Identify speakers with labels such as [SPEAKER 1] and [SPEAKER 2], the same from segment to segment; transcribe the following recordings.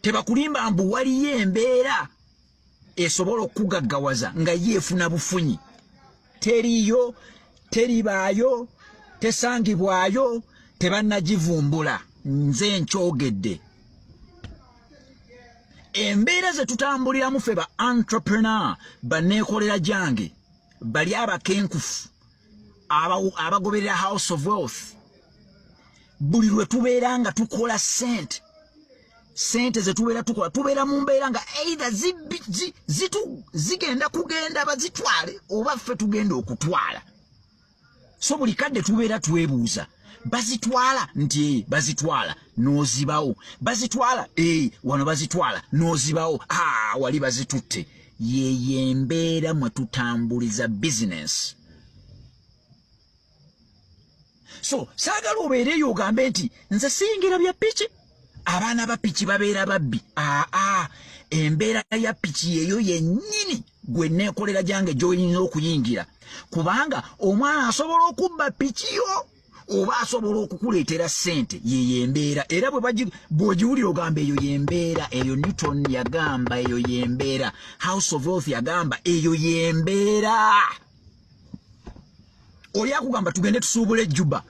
[SPEAKER 1] tebakulimba mbu waliyo embeera esobola okugaggawaza nga ye efuna bufunyi teriyo teribaayo tesangibwayo tebanagivumbula nze nkyogedde embeera ze tutambuliramu fe ba entrepreneur baneekolera gyange bali abakenkufu abagoberera house of wealth buli lwe tubeera nga tukola sente sente zetubeera tukola tubeera mu mbeera nga eidha zigenda kugenda bazitwale oba ffe tugenda okutwala so buli kadde tubeera twebuuza bazitwala nti ee eh, bazitwala n'ozibawo bazitwala ee eh, wano bazitwala n'ozibawo aa ah, wali bazitutte yeyo embeera mwe tutambuliza bizinensi so saagala obeereyo ogambe nti nze siyingira bya piki abaana ba piki babeera babbi aa embeera ya piki yeyo yennyini gwe neekolera gyange gyoyinza okuyingira kubanga omwana asobola okubba piki yo oba asobola okukuleetera ssente yeyo embeera era bwebagiwulira ogamba eyo yembeera eyo newton yagamba eyo yembeera house of wealth yagamba eyo yembeera oli akugamba tugende tusuubula ejjuba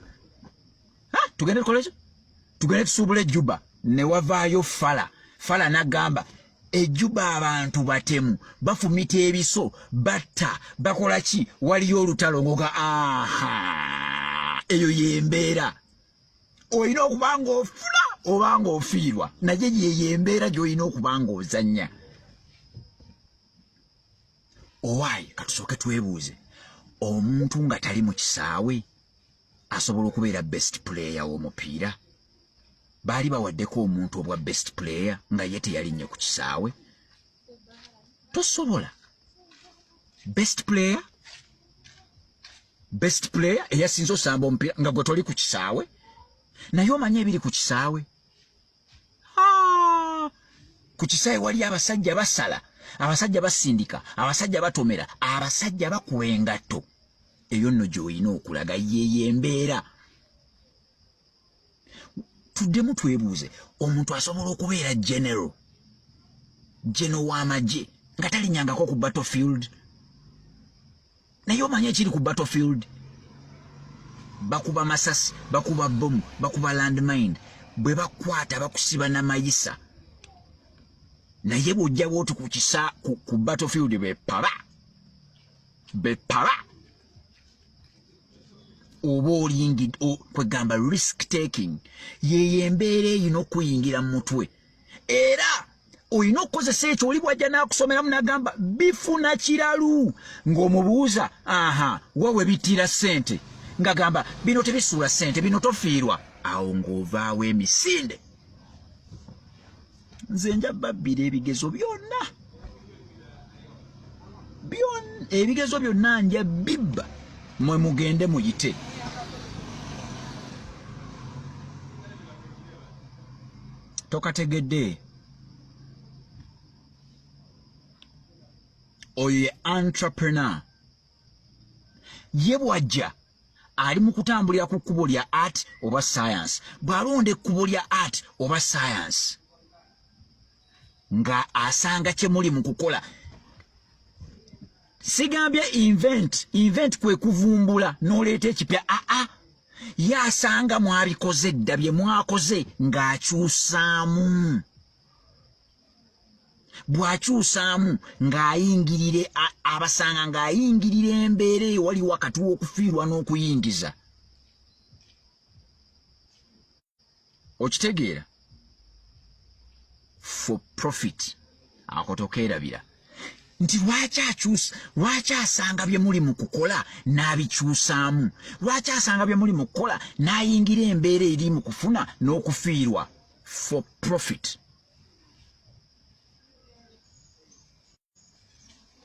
[SPEAKER 1] tugende tukoleki tugende tusuubula ejjuba newavaayo fala fala nagamba ejuba abantu batemu bafumita ebiso batta bakola ki waliyo olutalo ngoga aha eyo yembeera olina okuba nga ofula oba nga ofiirwa naye yeyo embeera gyolina okuba nga ozanya owaayi katusooke twebuuze omuntu nga tali mu kisaawe asobola okubeera best player w'omupiira baali bawaddeko omuntu obwa best player nga ye teyalinnye ku kisaawe tosobola best player best player eyasinze osamba omupiira nga gwe toli ku kisaawe naye omanye ebiri ku kisaawe ku kisaawe wali abasajja basala abasajja basindika abasajja batomera abasajja bakuwa engatto eyo nno gy'olina okulaga yeeyo embeera tuddemu twebuuze omuntu asobola okubeera general geno w'amagye nga talinyangako ku battlefield naye omanya ekiri ku battlefield bakuba masasi bakuba bomu bakuba landmine bwe bakwata bakusiba na mayisa naye bwojjawo oti ku kisa ku battlefield bepaba bepaba oba olingi kwegamba risk taking yeyo embeera eyina okuyingira mu mutwe era olina okukozesa ekyo oli bwajja n'akusomeramu n'agamba bifuna kiralu ng'omubuuza aha wa we bittira ssente ng'agamba bino tebisuula ssente bino tofiirwa awo ng'ovaawo emisinde nze nja babbira ebigezo byonna byon ebigezo byonna nja bibba mwe mugende muyite tokategedde oyo ye entrepreneur ye bwajja ali mu kutambulira ku kkubo lya art oba science bw'alonda ekkubo lya art oba science nga asanga kyemuli mu kukola sigambye invent invent kwe kuvumbula n'oleeta ekipya aa ah, ah. ye asanga mwabikoze dda bye mwakoze ng'akyusaamu bw'akyusaamu ng'ayingirire abasanga ng'ayingirira embeera ewali wakati w'okufiirwa n'okuyingiza okitegeera for profit akotokeerabira nti lwaki akyusa lwaki asanga bye muli mu kukola n'abikyusaamu lwaki asanga bye muli mu kukola n'ayingira embeera eri mu kufuna n'okufiirwa for profit